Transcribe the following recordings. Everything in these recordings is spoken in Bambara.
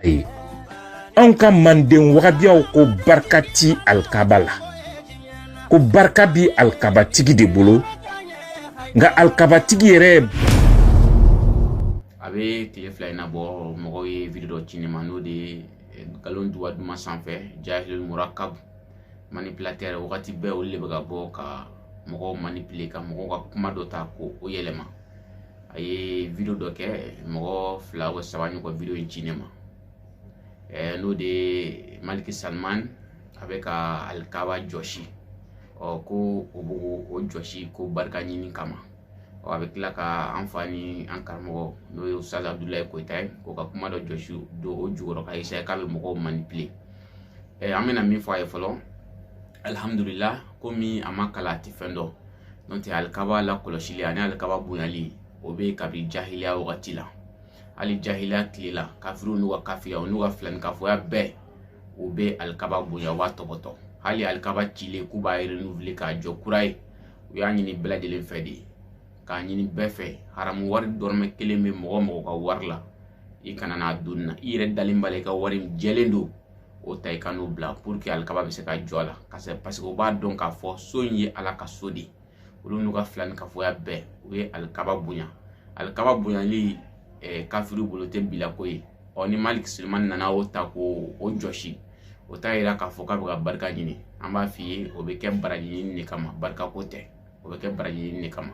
ayi anw ka manden wagabiyaw ko barika ti alikaba la ko barika bi alikabatigi de bolo nka alikabatigi yɛrɛ a bɛ tile fila in na bon mɔgɔw ye video dɔ ci ne ma n'o de ye eh, nkalon duwa duman sanfɛ jahilul murakab manipulateur wagati bɛɛ olu de bɛ ka bɔ ka mɔgɔw manipuler ka mɔgɔw ka kuma dɔ ta k'o yɛlɛma a ye video dɔ kɛ mɔgɔ fila wa saba ɲɔgɔn video in ci ne ma ɛɛ n'o de ye maliki salman a bɛ ka alikaba jɔsi ɔ ko o b'o jɔsi ko barika ɲini kama ɔ a bɛ tila ka an fa ni an karamɔgɔ n'o ye ustaz abudulayi koyita ye k'o ka kuma dɔ jɔsi don o jukɔrɔ ka essayer k'a bɛ mɔgɔw manipuler ɛɛ an bɛna min fɔ a ye fɔlɔ alihamudulila komi a ma kalan a tɛ fɛn dɔn n'o tɛ alikaba lakɔlɔsili ani alikaba bonyali o bɛ kabini jahiliya wagati la hali jahiliya tile la kafiriw n'u ka kafiriya n'u ka filankafoya bɛɛ u bɛ alikaba bonya u b'a tɔpɔtɔ hali alikaba cilen k'u b'a renouveler k'a jɔ kura ye u y'a ɲini bɛɛ lajɛlen fɛ de k'a ɲini bɛɛ fɛ haramu wari dɔrɔmɛ kelen bɛ mɔgɔ o mɔgɔ ka wari la i kana n'a don nin na i yɛrɛ dalen b'a la i ka wari jɛlen don o ta i ka n'o bila pour que alikaba bɛ se ka jɔ a la parce que u b'a dɔn k'a fɔ so in ye ala ka so de ye olu n'u ka filankafoya bɛɛ u ye alikaba bonya alikaba bonyali eh, kafiri bolo tɛ bilako ye ɔ ni maliki salman nana o ta k'o jɔsi o t'a yira k'a fɔ k'a bɛ ka barika ɲini an b'a f'i ye o bɛ kɛ baraji ɲini de kama barikako tɛ o bɛ kɛ baraji ɲini de kama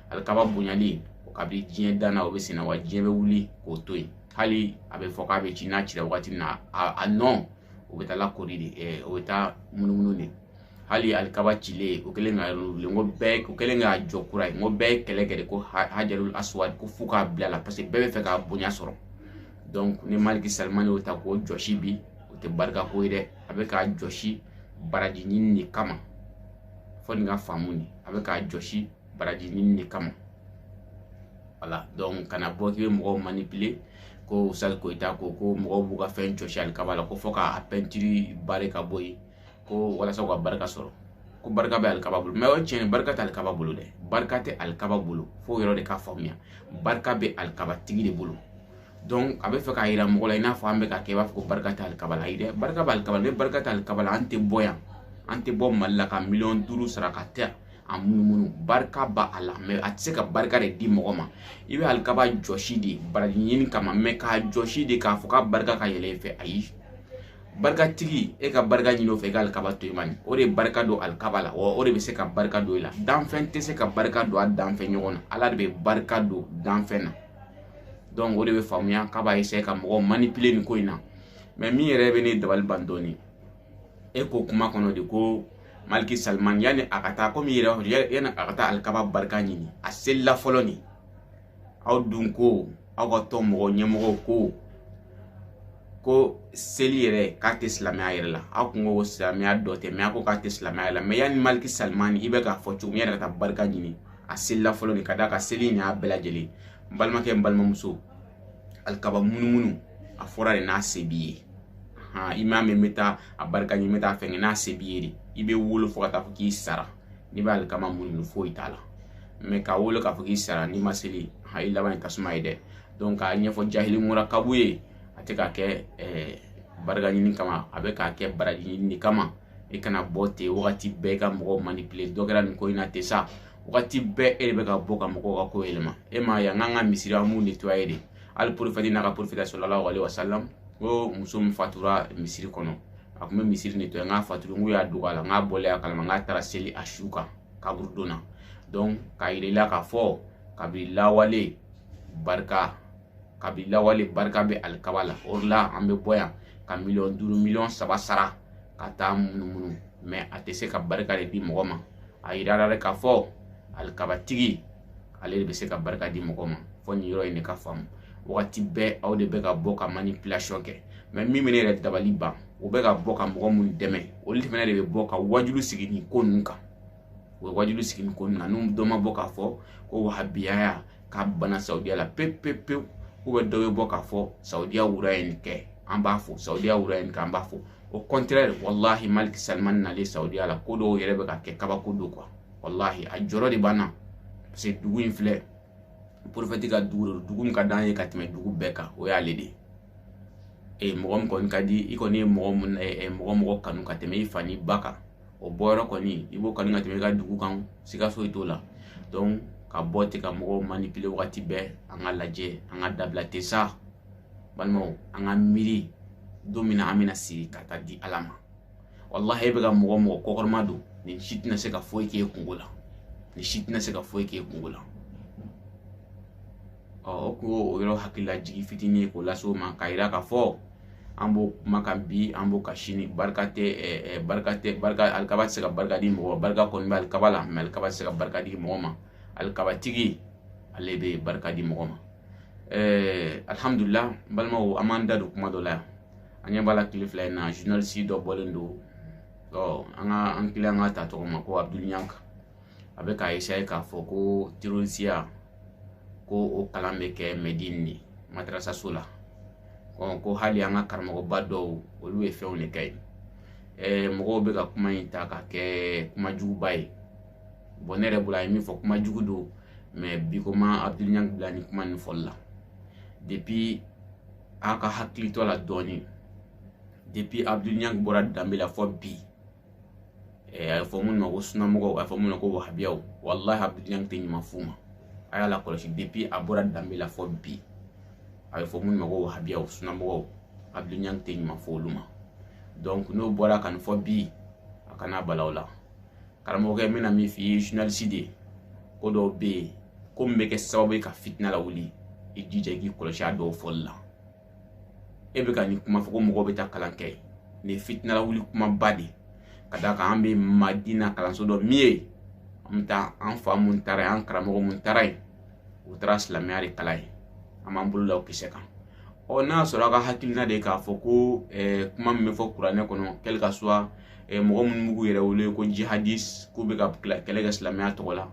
alikaba bonyali o kabini diɲɛ danna o bɛ senna wa diɲɛ bɛ wuli k'o to yen hali a bɛ fɔ k'a bɛ ci n'a cira wagati min na a nɔ o bɛ taa lakori de ɛ o bɛ taa munumunu de hali alikaba cilen o kɛlen k'a renouveler n ko bɛɛ o kɛlen k'a jɔ kura ye n ko bɛɛ ye kɛlɛ kɛ de ko hajarul aswad ko f'u k'a bila a la parce que bɛɛ b'a fɛ k'a bonya sɔrɔ donc ni maliki salman y'o ta k'o jɔsi bi o tɛ barika ko ye dɛ a bɛ k'a jɔsi baraji ɲini de kama fo nin ka faamu ni a bɛ k'a jɔsi baraji ɲini de kama voilà donc kana bɔ k'i bɛ mɔgɔw manipuler ko ustaz koyita ko ko mɔgɔw b'u ka fɛn jɔsi alikaba la ko fo k'a pɛntiri bare ka bɔ yen ko walasa u ka barika sɔrɔ ko barika bɛ alikaba bolo mais o ye tiɲɛ ye barika tɛ alikaba bolo dɛ barika tɛ alikaba bolo fo yɔrɔ de ka faamuya barika bɛ alikabatigi de bolo donc a bɛ fɛ k'a yira mɔgɔ la i n'a fɔ an bɛ ka kɛ i b'a fɔ ko barika tɛ alikaba la ayi dɛ barika bɛ alikaba la ni barika tɛ alikaba la an tɛ bɔ yan an tɛ bɔ mali la ka miliyɔn duuru sara ka taa a munumunu barika b'a la mais a tɛ se ka barika de di mɔgɔ ma i bɛ alikaba jɔsi de baraji ɲini kama mais k'a jɔsi de k'a fɔ k'a barika ka yɛlɛ i fɛ ayi barikatigi e ka barika ɲini o fɛ i ka alikaba to i ma nin o de ye barika don alikaba la wa o de bɛ se ka barika don i la danfɛn tɛ se ka barika don a danfɛn ɲɔgɔn na ala de bɛ barika don danfɛn na donc o de bɛ faamuya k'a b'a essayer ka mɔgɔw manipuler nin ko in na mais min yɛrɛ bɛ ne dabali ban dɔɔni e ko kuma kɔnɔ de ko maliki salman yanni a ka taa komi yɛrɛ yanni a ka taa alikaba barika ɲini a selila fɔlɔ nin aw dun ko aw ka tɔn mɔgɔ ɲɛmɔgɔw ko ko seli yɛrɛ k'a tɛ silamɛya yɛrɛ la aw kun ko silamɛya dɔ tɛ mais a ko k'a tɛ silamɛya yɛrɛ la mais yanni maliki salman i bɛ k'a fɔ cogo min yɛrɛ ka taa barika ɲini a selila fɔlɔ de ka d'a kan seli in y'a bɛɛ lajɛlen n balimakɛ n balimamuso alikaba munumunu a fɔra de n'a se b'i ye i m'a mɛn n bɛ taa a barika ɲini n bɛ taa fɛn kɛ n'a se b'i ye de i bɛ wolo fo ka taa fɔ k'i sara n'i bɛ alikaba munumunu foyi t'a la mais ka wolo k'a fɔ k'i sara n'i ma seli ha i laban ye tasuma ye dɛ donc k'a ɲɛfɔ jahili murakabu ye a tɛ k'a kɛ barika ɲini kama a bɛ k'a kɛ baraji ɲini kama i kana bɔ ten wagati bɛɛ i ka mɔgɔw manipuler dɔ kɛra nin ko in na ten sa wagati bɛɛ e de bɛ ka bɔ ka mɔgɔw ka ko yɛlɛma e m'a ye an k'an ka misiri an b'u nettoyer de hali prophète n'a ka prophète sallallahu alaihi wa salam ko muso min fatura misiri kɔnɔ a kun bɛ misiri nettoyer n k'a fatura n k'u y'a dogo a la n k'a bɔlen a kalama n k'a taara seli a su kan kaburudon na donc k'a yira i la k'a fɔ kabini lawale barika kabi lawale barika bɛ alikaba la o de la an bɛ bɔ yan ka miliyɔn duuru miliyɔn saba sara ka taa munumunu mais a tɛ se ka barika de di mɔgɔ ma a yirara de k'a fɔ alikabatigi ale de bɛ se ka barika di mɔgɔ ma fo nin yɔrɔ in de ka faamu wagati bɛɛ aw de bɛ ka bɔ ka manipulation kɛ mais min bɛ ne yɛrɛ dabali ban o bɛ ka bɔ ka mɔgɔ minnu dɛmɛ olu fana de bɛ bɔ ka wajulu sigi nin ko ninnu kan u bɛ wajulu sigi nin ko ninnu na n'u dɔ ma bɔ k'a fɔ ko wahabiyaya k'a bana saudiya la pewu pewu pewu ou bien dɔ bɛ bɔ k'a fɔ saudiya roi ye nin kɛ an b'a fɔ saudiya roi ye nin kɛ an b'a fɔ au contraire walahi maliki salman nalen saudiya la ko dɔw yɛrɛ bɛ ka kɛ kabako don quoi walahi a jɔrɔ de b'an na parce que dugu in filɛ prophète ka dugu de don dugu min ka d'an ye ka tɛmɛ dugu bɛɛ kan o y'ale de ye ee mɔgɔ min kɔni ka di i kɔni ye mɔgɔ mun mɔgɔ mɔgɔ kanu ka tɛmɛ i fa n'i ba kan o bɔyɔrɔ kɔni i b'o kanu ka tɛmɛ i ka dugu kan siga foyi t'o la donc ka bɔ ten ka mɔgɔw manipuler wagati bɛɛ an ka lajɛ an ka dabila ten sa balimaw an ka miiri don min na an bɛna siri ka taa di ala ma walahi e bɛ ka mɔgɔ o mɔgɔ kɔkɔrɔmadon nin si tɛna se ka foyi k'e kunko la nin si tɛna se ka foyi k'e kunko la ɔ o kun y'o yɔrɔ hakililajigin fitinin ye k'o lase o ma k'a yira k'a fɔ an b'o kuma kan bi an b'o kan sini barika tɛ ɛɛ barika tɛ barika alikaba tɛ se ka barika di mɔgɔ barika kɔni bɛ alikaba la mais alikaba tɛ se ka barika di mɔgɔ ma alikabatigi ale bɛ barika di mɔgɔ ma ɛɛ alhamdulillah n balimaw an b'an da don kuma dɔ la yan an ɲɛ b'a la tile fila in na journaliste dɔ bɔlen don ɔ an ka an kila an ka ta tɔgɔ ma ko abdoul niang a bɛ k'a essayer k'a fɔ ko terorisiya ko o kalan bɛ kɛ medine de madarasaso la ko hali an ka karamɔgɔba dɔw olu ye fɛnw de kɛ yen mɔgɔw bɛ ka kuma in ta ka kɛ kuma juguba ye bon ne yɛrɛ bolo a ye min fɔ kuma jugu don mais bi ko ma abdul niang bila ni kuma nin fɔli la depuis a ka hakili to la dɔɔnin depuis abdul niang bɔra danbe la fɔ bi a ye fɔ minnu ma ko sunamɔgɔw a ye fɔ minnu ma ko wahabiyaw walahi abdul niang tɛ ɲuman f'u ma a y'a lakɔlɔsi depuis a bɔra danbe la fɔ bi a bɛ fɔ minnu ma ko wahabiyaw sunamɔgɔw abdul niang tɛ ɲuman f'olu ma donc n'o bɔra ka nin fɔ bi a kana bala aw la karamɔgɔkɛ n bɛna min f'i ye journaliste de ko dɔw bɛ yen ko min bɛ kɛ sababu ye ka fitina lawuli i jija i k'i kɔlɔsi a dɔw fɔli la e bɛ ka nin kuma fɔ ko mɔgɔw bɛ taa kalan kɛ nin ye fitina lawuli kumaba de ka d'a kan an bɛ madina kalanso dɔn min ye an bɛ taa an fa minnu taara yen an karamɔgɔ minnu taara yen u taara silamɛya de kalan yen an b'an bolo da o kisɛ kan ɔ n'a sɔrɔ a ka hakilina de k'a fɔ ko eh, kuma min bɛ fɔ kuranɛ kɔnɔ quel que soit eh, mɔgɔ minnu b'u yɛrɛ wele ko jihadis k'u bɛ ka kɛlɛ kɛ silamɛya tɔgɔ la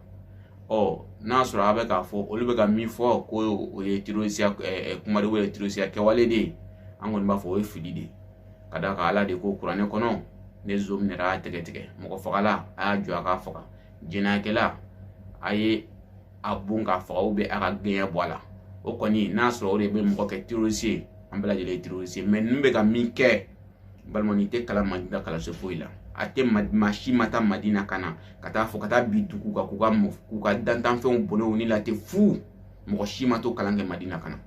ɔ n'a sɔrɔ a bɛ k'a fɔ olu bɛ ka min fɔ ko o ye terorisiya kuma de o ye terorisiya kɛwale de ye an kɔni b'a fɔ o ye fili de ye ka d'a kan ala de ko kuranɛ kɔnɔ ni zon minɛra a tɛgɛ tigɛ mɔgɔ fagala a y'a jɔ a k'a faga jɛnɛyakɛla a ye a bon k'a faga ou bien a ka gɛɲɛ bɔ a la o kɔni n'a sɔrɔ o de bɛ mɔgɔ kɛ terorisi ye an bɛɛ lajɛlen ye terorisi ye mais ninnu bɛ ka min kɛ balima nin tɛ kalan madina kalanso foyi la a tɛ maa si ma taa madina ka na ka taa fɔ ka taa bin dugu kan k'u ka k'u ka dantanfɛnw bɔnɛ u ni la ten fu mɔgɔ si ma t'o kalan kɛ madina ka na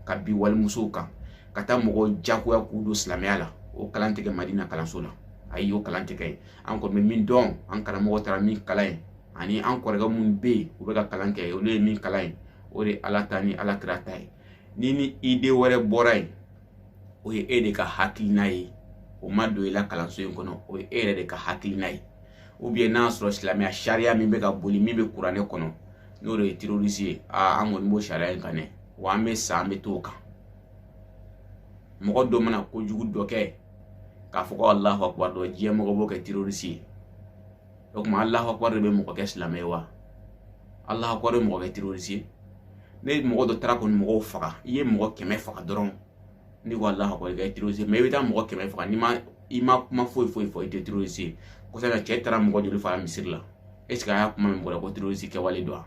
ka bin walimusow kan ka taa mɔgɔw jagoya k'u don silamɛya la o kalan tɛ kɛ madina kalanso la ayi o kalan tɛ kɛ yen an kɔni bɛ min dɔn an karamɔgɔ taara min kalan yen ani an kɔrɔkɛ minnu bɛ yen u bɛ ka kalan kɛ olu ye min kalan yen o de ye ala ta ni ala kira ta ye ni ni idée wɛrɛ bɔra yen o ye e de ka hakilina ye o ma don i la kalanso in kɔnɔ o ye e yɛrɛ de ka hakilina ye ou bien n'a sɔrɔ silamɛya sariya min bɛ ka boli min bɛ kuranɛ kɔnɔ n'o de ye terroriste ye aa an kɔni b'o sariya in kan dɛ wa an bɛ sa an bɛ t'o kan mɔgɔ dɔ mana kojugu dɔ kɛ k'a fɔ ko alahu akubar dɔrɔn diɲɛ mɔgɔ b'o kɛ terroriste ye o tuma alahu akubar de bɛ mɔgɔ kɛ silamɛ ye wa alahu akubar bɛ mɔgɔ kɛ terroriste ye ni mɔgɔ dɔ taara kɔni mɔgɔw faga i ye mɔgɔ kɛmɛ faga dɔrɔn n'i ko alahu akubar i kɛra terroriste ye mais i bɛ taa mɔgɔ kɛmɛ faga n'i ma i ma kuma foyi foyi fɔ i tɛ terroriste ye kosɛbɛ cɛ taara mɔgɔ joli faga misiri la est ce que a y'a kuma min bɔra ko terroriste kɛwale don wa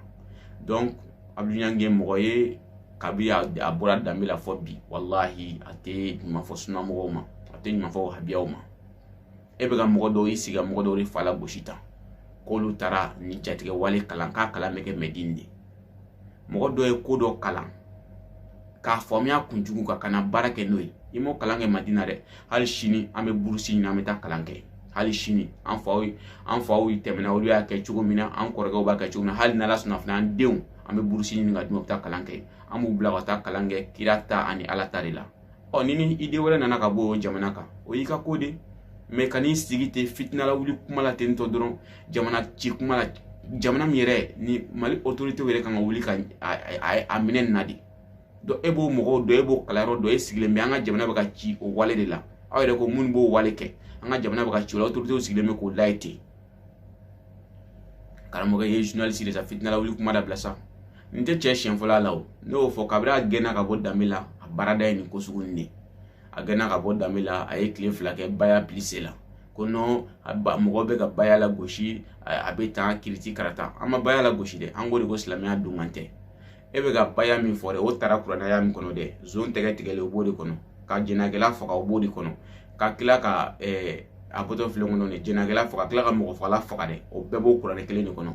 donc abdul niang ye mɔgɔ ye kabi a bɔra danbe la fɔ bi walahi a tɛ ɲuman fɔ sunamɔgɔw ma a tɛ ɲuman fɔ wahabiyaw ma e bɛ ka mɔgɔ dɔw i sigi ka mɔgɔ dɔw de fa lagosi tan k'olu taara nin jatigɛ wale kalan k'a kalan bɛ kɛ mɛdini de mɔgɔ dɔ ye ko dɔ kalan k'a faamuya kunjugu kan ka na baara kɛ n'o ye i m'o kalan kɛ madina dɛ hali sini an bɛ burusi ɲini an bɛ taa kalan kɛ hali sini an faw an faw tɛmɛna olu y'a kɛ cogo min na an kɔrɔkɛw b'a kɛ cogo min na hali n'ala sɔnna fana an denw an bɛ burusi ɲini ka d'u ma u bɛ taa kalan kɛ an b'u bila ka taa kalan kɛ kira ta ani ala ta de la ɔ ni ni idée wɛrɛ nana ka bɔ o jamana kan o y'i ka ko de mais ka n'i sigi ten fitina lawuli kuma la ten tɔ dɔrɔn jamana ci kuma la jamana min yɛrɛ ni mali autorité yɛrɛ kan ka wuli ka a minɛ nin na de donc e b'o mɔgɔw dɔn e b'o kalanyɔrɔ dɔn e sigilen bɛ an ka jamana bɛ ka ci o wale de la aw yɛrɛ ko minnu b'o wale kɛ an ka jamana bɛ ka ci o la autorité sigilen bɛ k'o lajɛ ten karamɔgɔ ye journaliste de sa fitina lawuli kuma dabila sa nin tɛ cɛ siɲɛ fɔlɔ a la o ne y'o fɔ kabiri a gɛnna ka bɔ danbe la a baarada ye nin ko sugu nin de a gɛnna ka bɔ danbe la a ye tile fila kɛ baya pili se la ko non mɔgɔ bɛ ka baya lagosi a bɛ tan kiriti karata an ma baya lagosi dɛ an ko de ko silamɛya donkan tɛ e bɛ ka baya min fɔ dɛ o taara kuranɛ aya min kɔnɔ dɛ zon tɛgɛ tigɛlen o b'o de kɔnɔ ka jɛnɛkɛla faga o b'o de kɔnɔ ka tila ka eh, a bɔtɔ filɛ kɔnɔ nin jɛnɛkɛla faga tila ka mɔgɔ fagala faga dɛ o bɛɛ b'o kuranɛ kelen de kɔnɔ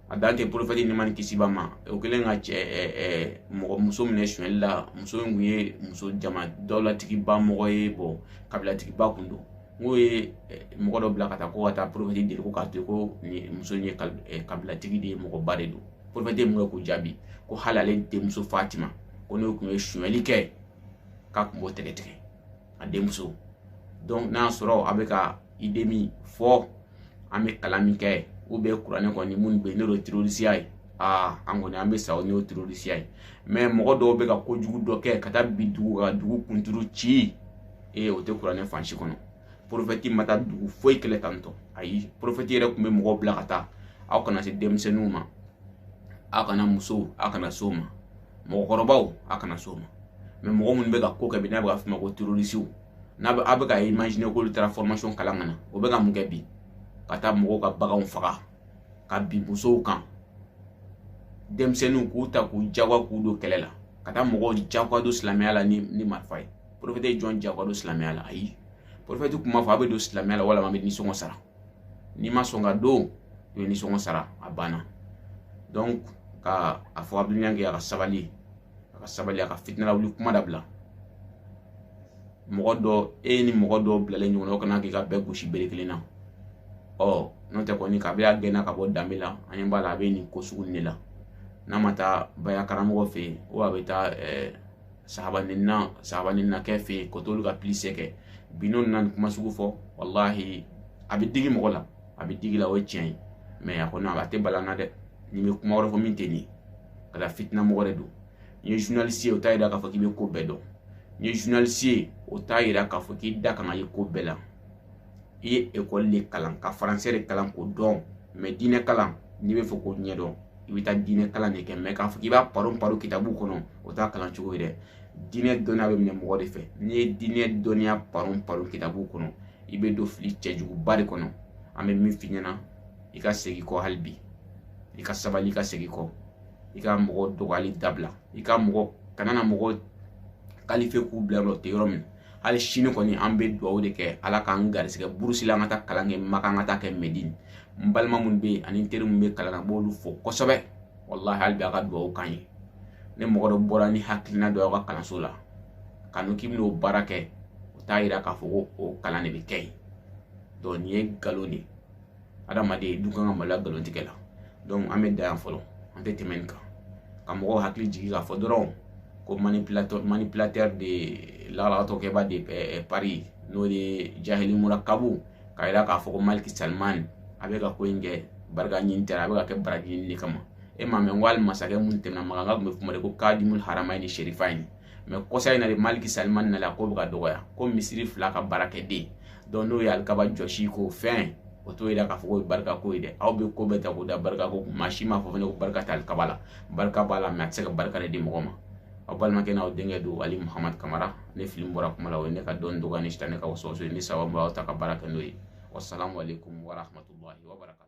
a dan tɛ porofɛti nɛɛma ni kisi b'a ma o kɛlen ka cɛ eh, eh, mɔgɔ muso minɛ sonyɛli la muso in kun ye muso jama dawulatigiba mɔgɔ ye bɔn kabilatigiba kun don n'o ye mɔgɔ dɔ bila ka taa ko ka taa porofɛti deli ko k'a to ko muso in ye kabilatigi de ye mɔgɔba de don pɔrɔfɛte mun kɛ k'o jaabi ko hali ale denmuso fatima ko n'o kun ye sonyali kɛ k'a kun b'o tɛgɛ tigɛ a denmuso donc n'a sɔrɔ a bɛ ka idée min fɔ an bɛ kalan min kɛ ou bien kuranɛ kɔni minnu bɛ yen n'o de ye terorisiya ye aa an kɔni an bɛ sa o n'o terorisiya ye mais mɔgɔ dɔw bɛ ka kojugu dɔ kɛ ka taa bin dugu kan dugu kunturu ci ee o tɛ kuranɛ fan si kɔnɔ porofɛti ma taa dugu foyi kɛlɛ tantɔ ayi porofɛti yɛrɛ kun bɛ mɔgɔw bila ka taa aw kana se denmisɛnninw ma aw kana musow aw kana se o ma mɔgɔkɔrɔbaw aw kana se o ma mais mɔgɔ minnu bɛ ka ko kɛ bi n'a bɛ ka f'o ma ko terorisiw n'a bɛ aw bɛ ka imaginer k'olu taara formation kalan ka na o bɛ ka mun kɛ bi ka taa mɔgɔw ka baganw faga ka bin musow kan denmisɛnninw k'u ta k'u jagoya k'u don kɛlɛ la ka taa mɔgɔw jagoya don silamɛya la ni marifa ye porofete ye jɔn jagoya don silamɛya la ayi porofete kun b'a fɔ a bɛ don silamɛya la walama a bɛ nisɔngɔ sara n'i ma sɔn ka don i bɛ nisɔngɔ sara a banna donc ka a fɔ abdul niang a ka sabali a ka sabali a ka fitina lawuli kuma dabila mɔgɔ dɔ e ni mɔgɔ dɔ bilalen ɲɔgɔn na o kana k'i ka bɛɛ gosi bere kelen na ɔ n'o tɛ kɔni kabi a gɛnna ka bɔ danbe la an ɲɛ b'a la a bɛ nin ko sugu nin de la n'a ma taa baya karamɔgɔ fɛ yen o a bɛ taa ɛɛ sahaba ni na sahaba ni na kɛ fɛ yen ko t'olu ka pilise kɛ bi n'o nana kuma sugu fɔ walahi a bɛ digi mɔgɔ la a bɛ digi la o ye tiɲɛ ye mɛ a kɔni a tɛ bala n na dɛ n'i bɛ kuma wɛrɛ fɔ min tɛ nin ye ka da fitina mɔgɔ de don n'i ye journaliste ye o t'a yira k'a fɔ k'i bɛ ko bɛɛ dɔn n'i ye journaliste ye o t'a yira k'a fɔ k'i da kan ka ye ko bɛɛ la i ye ekɔli de kalan ka faransɛ de kalan k'o dɔn mɛ diinɛ kalan n'i bɛ fɛ k'o ɲɛdɔn i bɛ taa diinɛ kalan de kɛ mɛ k'a fɔ k'i b'a paron paron kitabu kɔnɔ o t'a kalan cogo ye dɛ diinɛ dɔnniya bɛ minɛ mɔgɔ de fɛ n'i ye diinɛ dɔnniya paron paron kitabu kɔnɔ i bɛ don fili cɛjuguba de kɔnɔ an bɛ min f'i ɲɛna i ka segin kɔ hali bi i ka sabali i ka segin kɔ i ka mɔgɔ dɔgɔyali dabila i ka mɔgɔ kana na mɔgɔ kalifiye k'u bila yɔrɔ tɛ yɔrɔ min hali sini kɔni an bɛ dugawu de kɛ ala k'an garisɛgɛ burusi la an ka taa kalan kɛ maka an ka taa kɛ mɛdin n balima minnu bɛ yen ani n teri minnu bɛ kalan na n b'olu fo kosɛbɛ walahi hali bi a ka dugawu k'an ye ni mɔgɔ dɔ bɔra ni hakilina dɔ y'aw ka kalanso la ka n'o k'i bɛn'o baara kɛ o t'a yira k'a fɔ ko o kalan de bɛ kɛ yen donc nin ye nkalon de ye adamaden dun kan ka maloya nkalon tigɛ la donc an bɛ dan yan fɔlɔ an tɛ tɛmɛ nin kan ka mɔgɔw hakili jigin k'a fɔ dɔrɔn ko manipulateur manipulateur de lalagatɔkɛba de eh, eh, paris n'o de jahili murakabu k'a jira k'a fɔ ko maliki salman a bɛ ka ko in kɛ barika ɲini tɛ a bɛ ka kɛ baraji ɲini de kama e m'a mɛn ko hali masakɛ minnu tɛmɛna makan tun bɛ f'u ma de ko kadimul haramayini serifayini mɛ kɔsa in na de maliki salimani nalen a ko bɛ ka dɔgɔya ko misiri fila ka baarakɛden donc n'o ye alikaba jɔsi k'o fɛn o t'o yira k'a fɔ k'o ye barika ko ye dɛ aw bɛ ko bɛɛ ta k'o da barika ko kun maa si m'a fɔ fana ko barika tɛ alikaba la barika b'a la mɛ a tɛ se ka barika de di mɔgɔ ma aw balimakɛ n'aw denkɛ don ali muhamadu kamara ni fili bɔra kuma la o ye ne ka dɔnni dɔgɔya ni sitanɛ ka wasuwasu ye ni sababu aw ta ka baara kɛ n'o ye wasalamu aleykum warahmatullahi wabarakatu